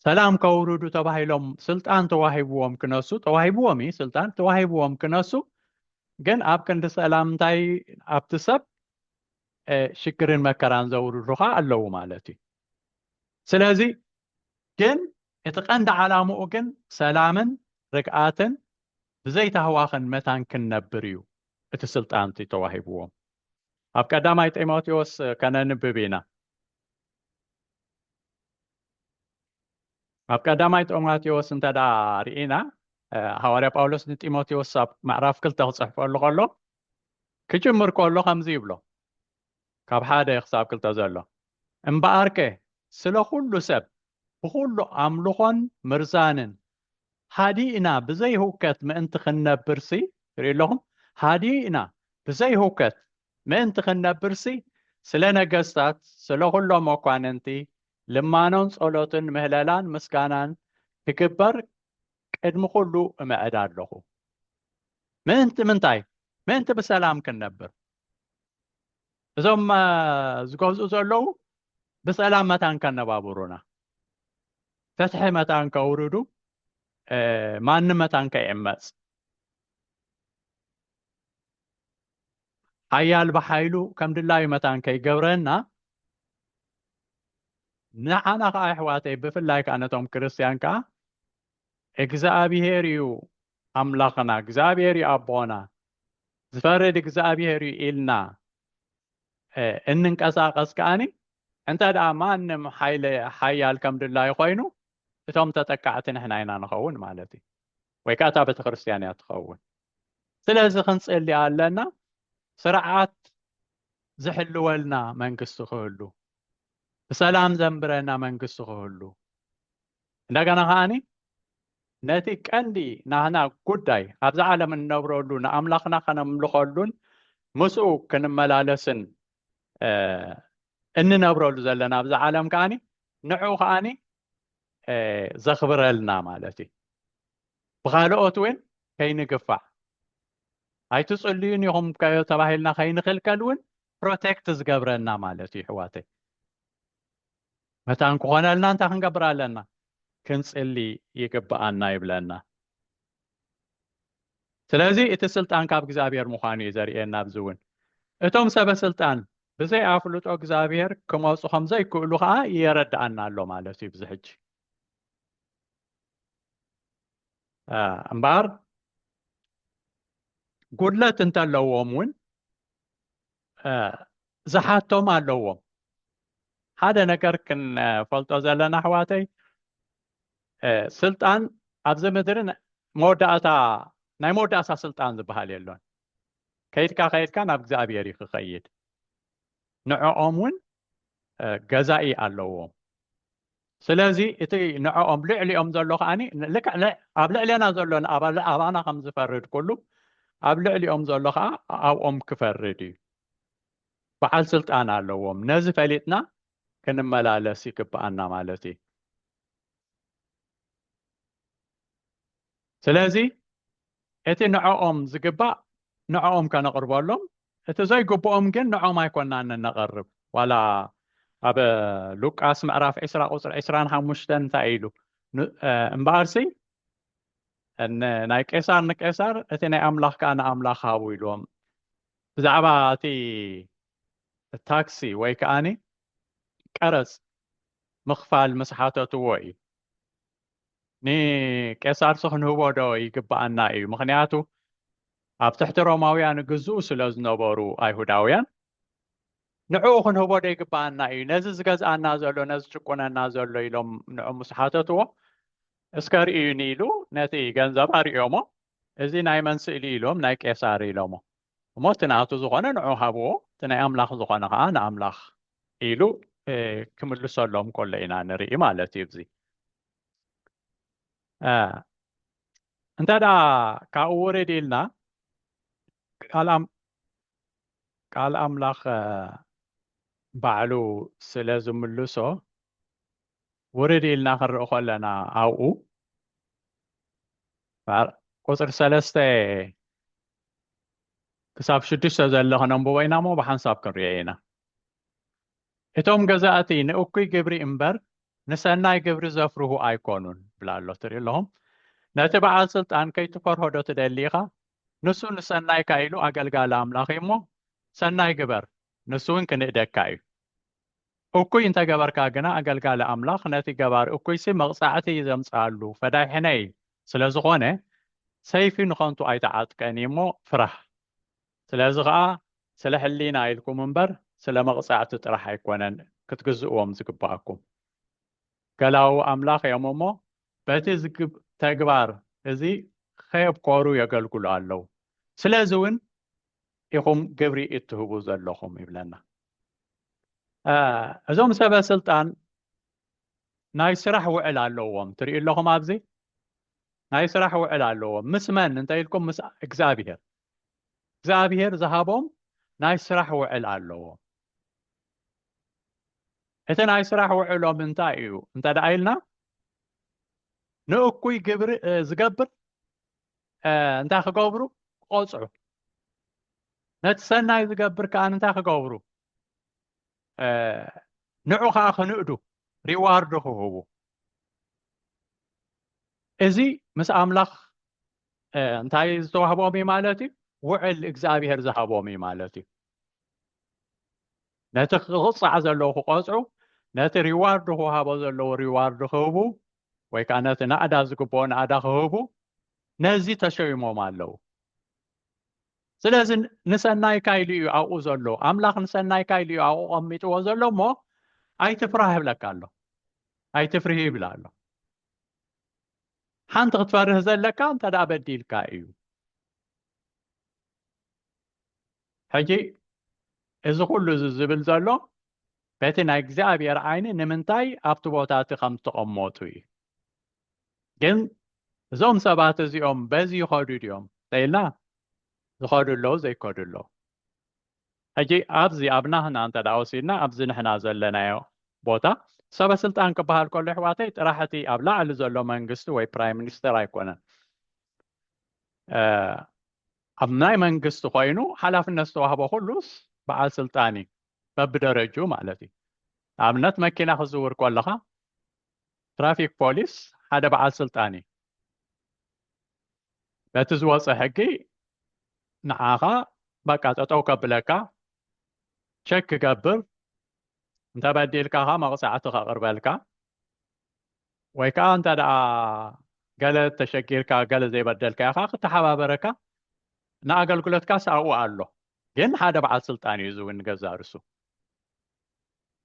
ሰላም ከውርዱ ተባሂሎም ስልጣን ተዋሂብዎም ክነሱ ተዋሂብዎም እዩ ስልጣን ተዋሂብዎም ክነሱ ግን ኣብ ክንዲ ሰላም እንታይ ኣብቲ ሰብ ሽግርን መከራን ዘውርዱ ከዓ ኣለዉ ማለት እዩ ስለዚ ግን እቲ ቀንዲ ዓላምኡ ግን ሰላምን ርግኣትን ብዘይታህዋኽን መታን ክንነብር እዩ እቲ ስልጣን እቲ ተዋሂብዎም ኣብ ቀዳማይ ጢሞቴዎስ ከነንብብ ኢና ኣብ ቀዳማይ ጢሞቴዎስ እንተ ርኢና ሃዋርያ ጳውሎስ ንጢሞቴዎስ ኣብ ምዕራፍ ክልተ ክፅሕፈሉ ከሎ ክጅምር ከሎ ከምዚ ይብሎ ካብ ሓደ ክሳብ ክልተ ዘሎ እምበኣርከ ስለ ኩሉ ሰብ ብኩሉ ኣምልኾን ምርዛንን ሃዲእና ብዘይህውከት ምእንቲ ክንነብርሲ ትርኢ ኣለኹም ሃዲእና ብዘይህውከት ምእንቲ ክንነብርሲ፣ ስለ ነገስታት፣ ስለ ዅሎም መኳንንቲ፣ ልማኖን ጸሎትን ምህለላን ምስጋናን ክግበር ቅድሚ ዅሉ እምዕድ ኣሎኹ። ምእንቲ ምንታይ? ምእንቲ ብሰላም ክንነብር። እዞም ዝገዝኡ ዘለዉ ብሰላም መታን ከነባብሩና፣ ፍትሒ መታን ከውርዱ፣ ማንም መታን ከይዕመጽ። ሓያል ብሓይሉ ከም ድላዩ መታን ከይገብረና ንዓና ከዓ ኣሕዋተይ ብፍላይ ከዓ ነቶም ክርስትያን ከዓ እግዚኣብሄር እዩ ኣምላኽና እግዚኣብሄር እዩ ኣቦና ዝፈርድ እግዚኣብሄር እዩ ኢልና እንንቀሳቀስ ከዓኒ እንተ ደኣ ማንም ሓይለ ሓያል ከም ድላዩ ኮይኑ እቶም ተጠቃዕቲ ንሕና ኢና ንኸውን ማለት እዩ ወይ ከዓ እታ ቤተክርስትያን እያ ትኸውን ስለዚ ክንፅሊ ኣለና ስርዓት ዝሕልወልና መንግስቲ ክህሉ ብሰላም ዘንብረና መንግስቲ ክህሉ እንደገና ከዓኒ ነቲ ቀንዲ ናህና ጉዳይ ኣብዚ ዓለም እንነብረሉ ንኣምላኽና ከነምልኸሉን ምስኡ ክንመላለስን እንነብረሉ ዘለና ኣብዚ ዓለም ከዓኒ ንዕኡ ከዓኒ ዘኽብረልና ማለት እዩ ብኻልኦት እውን ከይንግፋዕ ኣይትፅልዩን ኢኹም ተባሂልና ከይንኽልከል እውን ፕሮቴክት ዝገብረና ማለት እዩ ሕዋተይ መታን ክኾነልና እንታይ ክንገብር ኣለና ክንፅሊ ይግብኣና ይብለና ስለዚ እቲ ስልጣን ካብ እግዚኣብሔር ምዃኑ እዩ ዘርእየና ኣብዚ እውን እቶም ሰበ ስልጣን ብዘይ ኣፍልጦ እግዚኣብሔር ክመፁ ከም ዘይክእሉ ከዓ የረድኣና ኣሎ ማለት እዩ ብዚ ሕጂ እምበኣር ጉድለት እንተለዎም እውን ዝሓቶም ኣለዎም ሓደ ነገር ክንፈልጦ ዘለና ኣሕዋተይ ስልጣን ኣብዚ ምድሪ መወዳእታ ናይ መወዳእታ ስልጣን ዝበሃል የሎን ከይድካ ከይድካ ናብ እግዚኣብሔር እዩ ክኸይድ ንዕኦም እውን ገዛኢ ኣለዎ ስለዚ እቲ ንዕኦም ልዕሊኦም ዘሎ ከዓኒ ልክዕ ኣብ ልዕሌና ዘሎ ኣባና ከም ዝፈርድ ኩሉ ኣብ ልዕሊኦም ዘሎ ከዓ ኣብኦም ክፈርድ እዩ በዓል ስልጣን ኣለዎም ነዚ ፈሊጥና ክንመላለስ ይግብኣና ማለት እዩ ስለዚ እቲ ንዕኦም ዝግባእ ንዕኦም ከነቕርበሎም እቲ ዘይግብኦም ግን ንዕኦም ኣይኮናን እነቐርብ ዋላ ኣብ ሉቃስ ምዕራፍ ዕስራ ቁፅሪ ዕስራን ሓሙሽተን እንታይ ኢሉ እምበኣርሲ ናይ ቄሳር ንቄሳር እቲ ናይ ኣምላኽ ከዓ ንኣምላኽ ሃቡ ኢልዎም ብዛዕባ እቲ ታክሲ ወይ ከዓኒ ቀረፅ ምኽፋል ምስ ሓተትዎ እዩ ንቄሳርሲ ክንህቦ ዶ ይግብኣና እዩ ምክንያቱ ኣብ ትሕቲ ሮማውያን ግዝኡ ስለ ዝነበሩ ኣይሁዳውያን ንዕኡ ክንህቦ ዶ ይግብኣና እዩ ነዚ ዝገዝኣና ዘሎ ነዚ ጭቁነና ዘሎ ኢሎም ንዑ ምስ ሓተትዎ እስከ ርእዩኒ ኢሉ ነቲ ገንዘብ ኣርእዮሞ እዚ ናይ መን ስእሊ ኢሎም ናይ ቄሳር ኢሎሞ እሞ እቲ ናቱ ዝኾነ ንዑ ሃብዎ እቲ ናይ ኣምላኽ ዝኾነ ከኣ ንኣምላኽ ኢሉ ክምልሰሎም ከሎ ኢና ንርኢ ማለት እዩ እዚ እንተ ካብኡ ውርድ ኢልና ቃል ኣምላኽ ባዕሉ ስለ ዝምልሶ ውርድ ኢልና ክንርኢ ከለና ኣብኡ ቁፅሪ ሰለስተ ክሳብ ሽዱሽተ ዘሎ ክነንብቦ ኢና እሞ ብሓንሳብ ክንሪኦ ኢና እቶም ገዛእቲ ንእኩይ ግብሪ እምበር ንሰናይ ግብሪ ዘፍርሁ ኣይኮኑን ብላ ኣሎ ትርኢ ኣለኹም ነቲ በዓል ስልጣን ከይትፈርሆ ዶ ትደሊ ኢኻ ንሱ ንሰናይካ ኢሉ ኣገልጋሊ ኣምላኽ እዩ እሞ ሰናይ ግበር ንሱ እውን ክንእደካ እዩ እኩይ እንተ ገበርካ ግና ኣገልጋሊ ኣምላኽ ነቲ ገባሪ እኩይሲ መቕጻዕቲ እዩ ዘምጽኣሉ፣ ፈዳይ ሕነ እዩ። ስለ ዝዀነ ሰይፊ ንኸንቱ ኣይተዓጥቀን እዩ እሞ፣ ፍራህ። ስለዚ ኸኣ ስለ ሕሊና ኢልኩም እምበር ስለ መቕጻዕቲ ጥራሕ ኣይኰነን ክትግዝእዎም ዝግብኣኩም። ገላዉ ኣምላኽ እዮም እሞ፣ በቲ ተግባር እዚ ኼብኰሩ የገልግሉ ኣለዉ፣ ስለዚ እውን ኢኹም ግብሪ እትህቡ ዘለኹም ይብለና። እዞም ሰበ ስልጣን ናይ ስራሕ ውዕል ኣለዎም ትርኢ ኣለኹም ኣብዚ ናይ ስራሕ ውዕል ኣለዎም ምስ መን እንተ ኢልኩም ምስ እግዚኣብሄር እግዚኣብሄር ዝሃቦም ናይ ስራሕ ውዕል ኣለዎም እቲ ናይ ስራሕ ውዕሎም እንታይ እዩ እንተ ደኣ ኢልና ንእኩይ ግብሪ ዝገብር እንታይ ክገብሩ ክቆፅዑ ነቲ ሰናይ ዝገብር ከዓ እንታይ ክገብሩ ንዑ ከዓ ክንእዱ ሪዋርድ ክህቡ እዚ ምስ ኣምላኽ እንታይ ዝተዋህቦም እዩ ማለት እዩ ውዕል እግዚኣብሄር ዝሃቦም እዩ ማለት እዩ ነቲ ክቕፃዕ ዘለዎ ክቆፅዑ ነቲ ሪዋርድ ክውሃቦ ዘለዎ ሪዋርድ ክህቡ ወይ ከዓ ነቲ ናእዳ ዝግብኦ ናእዳ ክህቡ ነዚ ተሸይሞም ኣለው ስለዚ ንሰናይካ ኢሉ እዩ ኣብኡ ዘሎ ኣምላኽ ንሰናይካ ኢሉ እዩ ኣብኡ ቀሚጥዎ ዘሎ እሞ ኣይትፍራህ ይብለካ ኣሎ ኣይትፍርሂ ይብላ ኣሎ ሓንቲ ክትፈርህ ዘለካ እንተ በዲልካ እዩ ሕጂ እዚ ኩሉ እዚ ዝብል ዘሎ በቲ ናይ እግዚኣብሔር ዓይኒ ንምንታይ ኣብቲ ቦታ እቲ ከም ዝተቐመጡ እዩ ግን እዞም ሰባት እዚኦም በዚ ይኸዱ ድዮም ተኢልና ዝኸዱ ኣለዉ ዘይከዱ ኣለዉ ሕጂ ኣብዚ ኣብ ናህና እንተ ደኣ ወሲድና ኣብዚ ንሕና ዘለናዮ ቦታ ሰበ ስልጣን ክበሃል ከሎ ኣሕዋተይ ጥራሕ እቲ ኣብ ላዕሊ ዘሎ መንግስቲ ወይ ፕራይም ሚኒስተር ኣይኮነን ኣብ ናይ መንግስቲ ኮይኑ ሓላፍነት ዝተዋህቦ ኩሉስ በዓል ስልጣን እዩ በብደረጅኡ ማለት እዩ ንኣብነት መኪና ክዝውር ከለኻ ትራፊክ ፖሊስ ሓደ በዓል ስልጣን እዩ በቲ ዝወፀ ሕጊ ንዓኻ በቃ ጠጠው ከብለካ ቸክ ክገብር እንተበዲልካኻ መቕፃዕቲ ከቕርበልካ ወይ ከኣ እንተ ደኣ ገለ ተሸጊርካ ገለ ዘይበደልካዮ ከኣ ክተሓባበረካ ንኣገልግሎትካስ ኣብኡ ኣሎ ግን ሓደ በዓል ስልጣን እዩ እዚ እውን ንገዛ ርሱ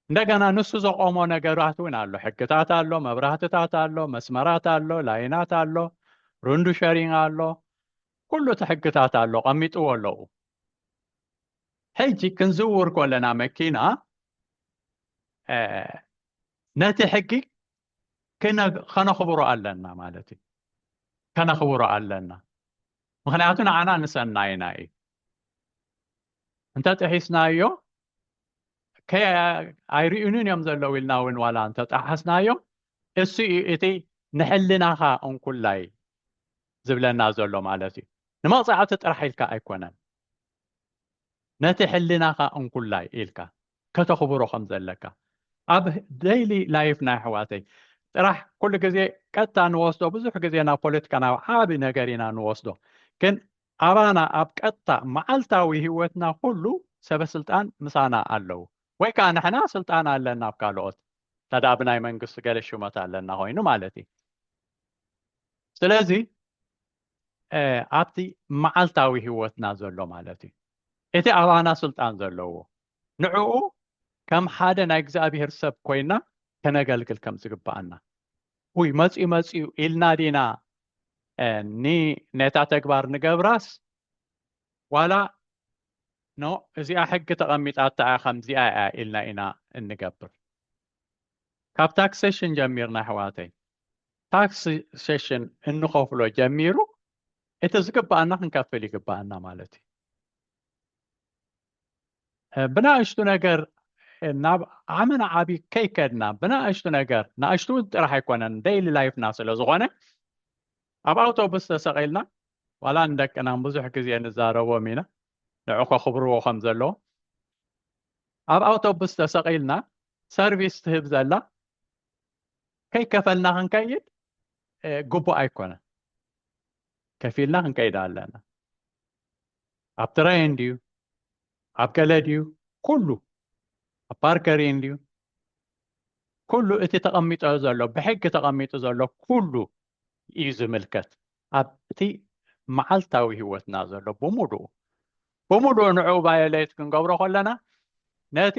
እንደገና ንሱ ዘቆሞ ነገራት እውን ኣሎ ሕግታት ኣሎ መብራህትታት ኣሎ መስመራት ኣሎ ላይናት ኣሎ ሩንዱ ሸሪንግ ኣሎ ኩሉ እቲ ሕግታት ኣሎ ቀሚጥዎ ኣለዉ ሕጂ ክንዝውር ኮለና መኪና ነቲ ሕጊ ከነኽብሮ ኣለና ማለት እዩ ከነኽብሮ ኣለና ምክንያቱ ንዓና ንሰናይና እዩ እንተ ጥሒስናዮ ኣይርእዩንን እዮም ዘለዉ ኢልና እውን ዋላ እንተጠሓስናዮ እሱ እዩ እቲ ንሕልናኻ እንኩላይ ዝብለና ዘሎ ማለት እዩ ንመቕፃዕቲ ጥራሕ ኢልካ ኣይኮነን ነቲ ሕልናኻ እንኩላይ ኢልካ ከተኽብሮ ከም ዘለካ ኣብ ደይሊ ላይፍና ኣሕዋተይ ጥራሕ ኩሉ ግዜ ቀጥታ ንወስዶ ብዙሕ ግዜ ናብ ፖለቲካ ናብ ዓቢ ነገር ኢና ንወስዶ ግን ኣባና ኣብ ቀጥታ መዓልታዊ ህይወትና ኩሉ ሰበስልጣን ምሳና ኣለዉ ወይ ከዓ ንሕና ስልጣን ኣለና ኣብ ካልኦት ተዳ ብናይ መንግስቲ ገለ ሽመት ኣለና ኮይኑ ማለት እዩ ስለዚ ኣብቲ መዓልታዊ ህይወትና ዘሎ ማለት እዩ እቲ ኣባና ስልጣን ዘለዎ ንዕኡ ከም ሓደ ናይ እግዚኣብሄር ሰብ ኮይና ከነገልግል ከም ዝግባኣና ውይ መፅኡ መፅኡ ኢልና ዲና ነታ ተግባር ንገብራስ ዋላ ኖ እዚኣ ሕጊ ተቐሚጣታ እያ ከምዚኣ እያ ኢልና ኢና እንገብር ካብ ታክሴሽን ጀሚርና ኣሕዋተይ ታክስ ሴሽን እንኸፍሎ ጀሚሩ እቲ ዝግባኣና ክንከፍል ይግባኣና ማለት እዩ ብናእሽቱ ነገር ናብ ዓመና ዓብ ከይከድና ብናእሽቱ ነገር ናእሽቱ እውን ጥራሕ ኣይኮነን ደይሊ ላይፍና ስለ ዝኾነ ኣብ ኣውቶቡስ ተሰቂልና ዋላ ንደቅና ብዙሕ ግዜ ንዛረቦም ኢና ንዑ ከኽብርዎ ከም ዘለዎ ኣብ ኣውቶቡስ ተሰቂልና ሰርቪስ ትህብ ዘላ ከይከፈልና ክንከይድ ግቡእ ኣይኮነን ከፊልና ክንከይድ ኣለና ኣብ ትራይ እንድዩ ኣብ ገለ ድዩ ኩሉ ኣብ ፓርከሪ እንድዩ ኩሉ እቲ ተቐሚጦ ዘሎ ብሕጊ ተቐሚጡ ዘሎ ኩሉ እዩ ዝምልከት ኣብቲ መዓልታዊ ህይወትና ዘሎ ብምሉኡ ብምሉኡ ንዕኡ ባዮሌት ክንገብሮ ከለና ነቲ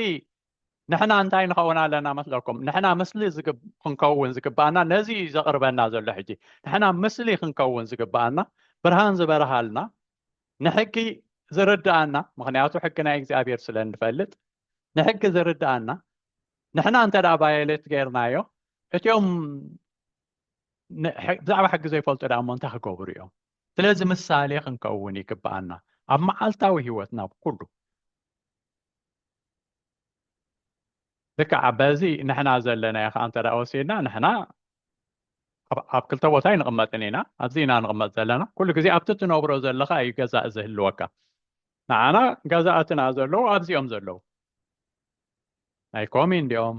ንሕና እንታይ ንኸውን ኣለና መስለኩም ንሕና ምስሊ ክንከውን ዝግብኣና ነዚ እዩ ዘቕርበና ዘሎ ሕጂ ንሕና ምስሊ ክንከውን ዝግብኣና ብርሃን ዝበርሃልና ንሕጊ ዝርድኣና ምክንያቱ ሕጊ ናይ እግዚኣብሔር ስለ እንፈልጥ ንሕጊ ዝርድኣና ንሕና እንተ ባየሌት ገይርናዮ እትኦም ብዛዕባ ሕጊ ዘይፈልጡ ዳሞ እንታይ ክገብሩ እዮም ስለዚ ምሳሌ ክንከውን ይግብኣና ኣብ መዓልታዊ ህይወትና ብኩሉ ልክዕ በዚ ንሕና ዘለናዮ ከዓ እንተ ወሲድና ንሕና ኣብ ክልተ ቦታ ኣይንቕመጥን ኢና ኣብዚ ኢና ንቕመጥ ዘለና ኩሉ ግዜ ኣብቲ ትነብሮ ዘለካ እዩ ገዛእ ዝህልወካ ንዓና ገዛእትና ዘለዉ ኣብዚኦም ዘለዉ ናይ ኮሚን ዲኦም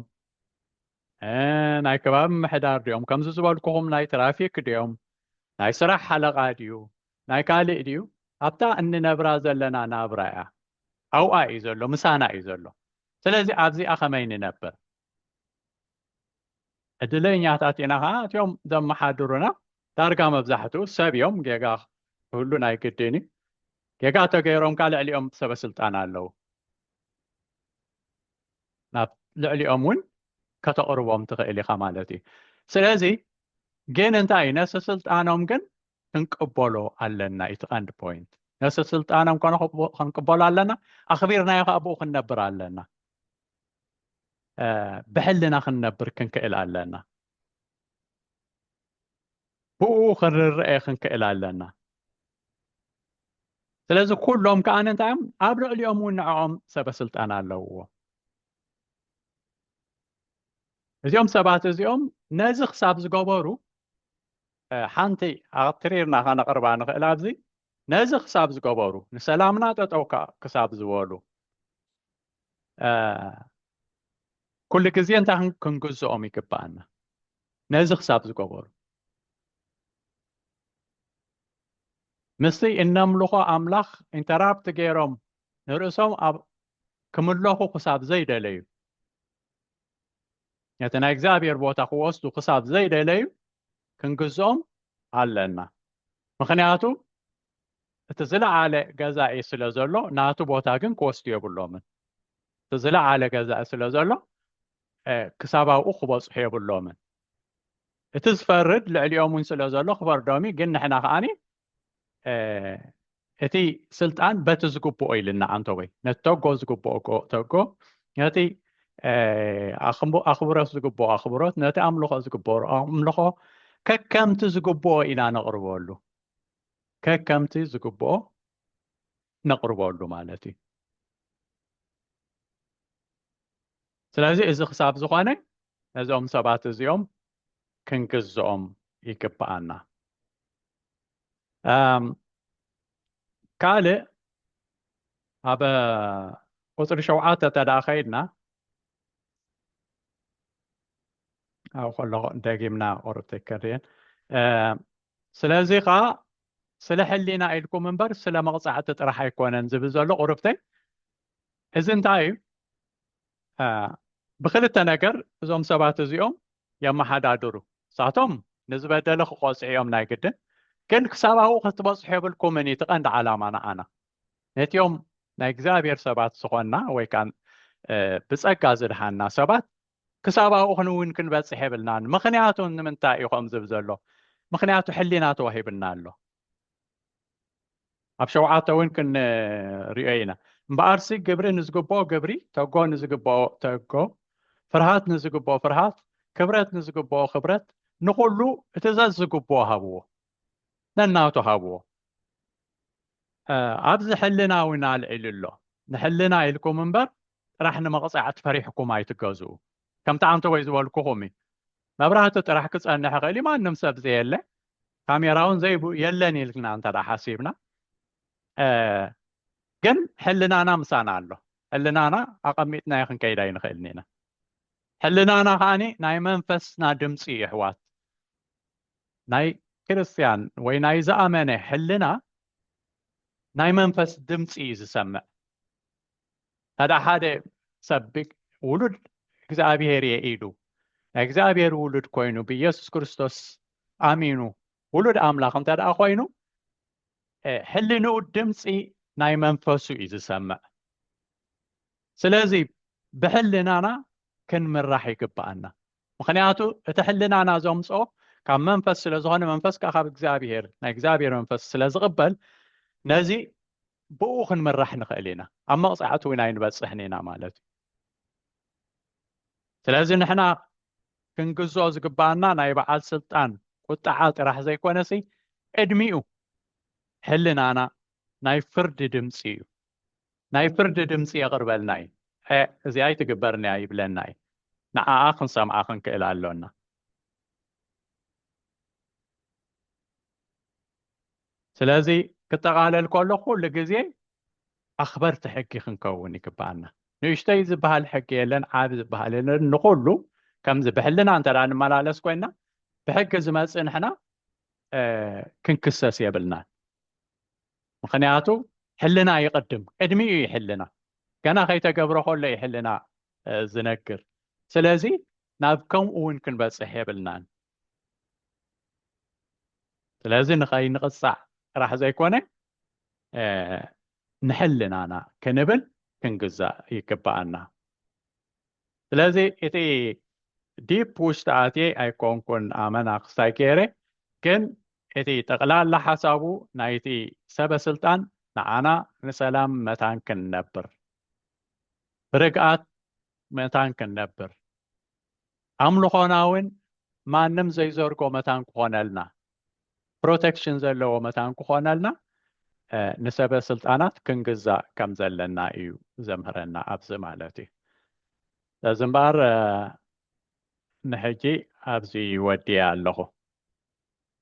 ናይ ከባቢ ምሕዳር ድዮም ከምዚ ዝበልኩኹም ናይ ትራፊክ ድዮም ናይ ስራሕ ሓለቓ ድዩ ናይ ካልእ ድዩ ኣብታ እንነብራ ዘለና ናብራ እያ ኣብኣ እዩ ዘሎ ምሳና እዩ ዘሎ ስለዚ ኣብዚኣ ከመይ ንነብር ዕድለኛታት ኢና ከዓ እትዮም ዘመሓድሩና ዳርጋ መብዛሕትኡ ሰብ እዮም ጌጋ ክህሉ ናይ ግድን እዩ ጌጋ ተገይሮም ከዓ ልዕሊኦም ሰበስልጣን ኣለዉ ናብ ልዕሊኦም እውን ከተቕርቦም ትኽእል ኢኻ ማለት እዩ ስለዚ ግን እንታይ እዩ ነፍሰ ስልጣኖም ግን ክንቅበሎ ኣለና እቲ ቀንዲ ፖይንት ነፍሰ ስልጣኖም ኮነ ክንቅበሎ ኣለና ኣኽቢርናዮ ከዓ ብኡ ክንነብር ኣለና ብሕልና ክንነብር ክንክእል ኣለና ብኡ ክንርረኤ ክንክእል ኣለና ስለዚ ኩሎም ከዓ እንታይ እዮም ኣብ ልዕሊኦም እውን ንዕኦም ሰበስልጣን ኣለውዎ እዚኦም ሰባት እዚኦም ነዚ ክሳብ ዝገበሩ ሓንቲ ኣትሪርና ከነቕርባ ንኽእል ኣብዚ ነዚ ክሳብ ዝገበሩ ንሰላምና ጠጠው ክሳብ ዝበሉ ኩሉ ግዜ እንታይ ክንግዝኦም ይግባኣና ነዚ ክሳብ ዝገበሩ ምስቲ እነምልኾ ኣምላኽ ኢንተራፕት ገይሮም ንርእሶም ኣብ ክምለኹ ክሳብ ዘይደለዩ ነቲ ናይ እግዚኣብሔር ቦታ ክወስዱ ክሳብ ዘይደለዩ ክንግዝኦም ኣለና ምክንያቱ እቲ ዝለዓለ ገዛኢ ስለ ዘሎ ናቱ ቦታ ግን ክወስዱ የብሎምን እቲ ዝለዓለ ገዛኢ ስለ ዘሎ ክሳብ ኣብኡ ክበፅሑ የብሎምን እቲ ዝፈርድ ልዕሊኦም እውን ስለ ዘሎ ክፈርዶም ግን ንሕና ከዓኒ እቲ ስልጣን በቲ ዝግብኦ ኢልና ኣንተወይ ነቲ ተጎ ዝግብኦ ተጎ ነቲ ኣኽብሮት ዝግብኦ ኣኽብሮት ነቲ ኣምልኾ ዝግበሩ ኣምልኾ ከከምቲ ዝግብኦ ኢና ነቕርበሉ ከከምቲ ዝግብኦ ነቕርበሉ ማለት እዩ ስለዚ እዚ ክሳብ ዝኾነ ነዚኦም ሰባት እዚኦም ክንግዝኦም ይግብኣና ካልእ ኣብ ቁፅሪ ሸውዓተ ተደኣ ከይድና ኣብ ከሎ ደጊምና ቁርብቲ ከድየን ስለዚ ከኣ ስለ ሕሊና ኢልኩም እምበር ስለ መቕጻዕቲ ጥራሕ ኣይኮነን ዝብል ዘሎ ቁርብተይ እዚ እንታይ እዩ ብክልተ ነገር እዞም ሰባት እዚኦም የመሓዳድሩ ሳቶም ንዝበደለ ክቆጽዑ እዮም ናይ ግድን ግን ክሳብ ኣብኡ ክትበጽሑ የብልኩምን እዩ ትቐንዲ ዓላማ ንዓና ነቲኦም ናይ እግዚኣብሔር ሰባት ዝኾንና ወይ ከዓ ብጸጋ ዝድሓና ሰባት ክሳብ ኣብኡ ክንውን ክንበጽሕ የብልናን ምኽንያቱ ንምንታይ እዩ ከምዚ ዝብል ዘሎ ምኽንያቱ ሕሊና ተዋሂብና ኣሎ ኣብ ሸውዓተ እውን ክንሪኦ ኢና እምበኣርሲ ግብሪ ንዝግብኦ ግብሪ ተጎ ንዝግብኦ ተጎ ፍርሃት ንዝግብኦ ፍርሃት ክብረት ንዝግብኦ ክብረት ንኹሉ እቲ ዘዝግብኦ ሃብዎ ነናቱ ሃብዎ ኣብዚ ሕልና እውን ኣልዒሉ ኣሎ ንሕልና ኢልኩም እምበር ጥራሕ ንመቕጻዕቲ ፈሪሕኩም ኣይትገዝኡ ከምቲ ኣንተወይ ዝበልኩኹም እዩ መብራህቲ ጥራሕ ክጸንሕ ይኽእል እዩ ማንም ሰብ ዘየለ ካሜራ እውን ዘይብኡ የለን ኢልና እንተ ሓሲብና ግን ሕልናና ምሳና ኣሎ ሕልናና ኣቐሚጥና ይክንከይድ ኣይንኽእልን ኢና ሕልናና ከዓኒ ናይ መንፈስና ድምፂ ይሕዋት ናይ ክርስትያን ወይ ናይ ዝኣመነ ሕልና ናይ መንፈስ ድምፂ እዩ ዝሰምዕ ታድኣ ሓደ ሰብ ውሉድ እግዚኣብሔር እየ ኢሉ ናይ እግዚኣብሔር ውሉድ ኮይኑ ብኢየሱስ ክርስቶስ ኣሚኑ ውሉድ ኣምላኽ እንተ ደኣ ኮይኑ ሕልንኡ ድምፂ ናይ መንፈሱ እዩ ዝሰምዕ ስለዚ ብሕልናና ክንምራሕ ይግብኣና ምክንያቱ እቲ ሕልናና ዘምፆ ካብ መንፈስ ስለ ዝኾነ መንፈስ ከዓ ካብ እግዚኣብሄር ናይ እግዚኣብሄር መንፈስ ስለ ዝቕበል ነዚ ብኡ ክንምራሕ ንኽእል ኢና ኣብ መቕፃዕቲ እውን ኣይንበፅሕን ኢና ማለት እዩ ስለዚ ንሕና ክንግዞ ዝግባኣና ናይ በዓል ስልጣን ቁጣዓ ጥራሕ ዘይኮነሲ ቅድሚኡ ሕልናና ናይ ፍርዲ ድምፂ እዩ ናይ ፍርዲ ድምጺ የቕርበልናይ ዔዕ እዚኣ ኣይትግበርንያ ይብለናይ ንዓኣ ክንሰምዓ ክንክእል ኣሎና። ስለዚ ክጠቓለል ከሎ ኩሉ ግዜ ኣኽበርቲ ሕጊ ክንከውን ይግብኣና። ንእሽተይ ዝበሃል ሕጊ የለን ዓቢ ዝበሃል የለን ንኹሉ ከምዚ ብሕልና እንተ ንመላለስ ኮይና ብሕጊ ዝመጽእ ንሕና ክንክሰስ የብልናን። ምክንያቱ ሕልና ይቅድም ቅድሚ እዩ ይሕልና ገና ከይተገብረ ከሎ እዩ ሕልና ዝነግር ስለዚ ናብ ከምኡ እውን ክንበፅሕ የብልናን ስለዚ ንኸይንቕፃዕ ጥራሕ ዘይኮነ ንሕልናና ክንብል ክንግዛእ ይግባኣና ስለዚ እቲ ዲፕ ውሽጢ ኣትየ ኣይኮንኩን ኣመና ክስታይ ገይረ ግን እቲ ጠቕላላ ሓሳቡ ናይቲ ሰበ ስልጣን ንዓና ንሰላም መታን ክንነብር ብርግኣት መታን ክንነብር ኣምልኾና እውን ማንም ዘይዘርጎ መታን ክኾነልና ፕሮተክሽን ዘለዎ መታን ክኾነልና ንሰበ ስልጣናት ክንግዛእ ከም ዘለና እዩ ዘምህረና ኣብዚ ማለት እዩ ስለዚ እምበኣር ንሕጂ ኣብዚ ወዲያ ኣለኹ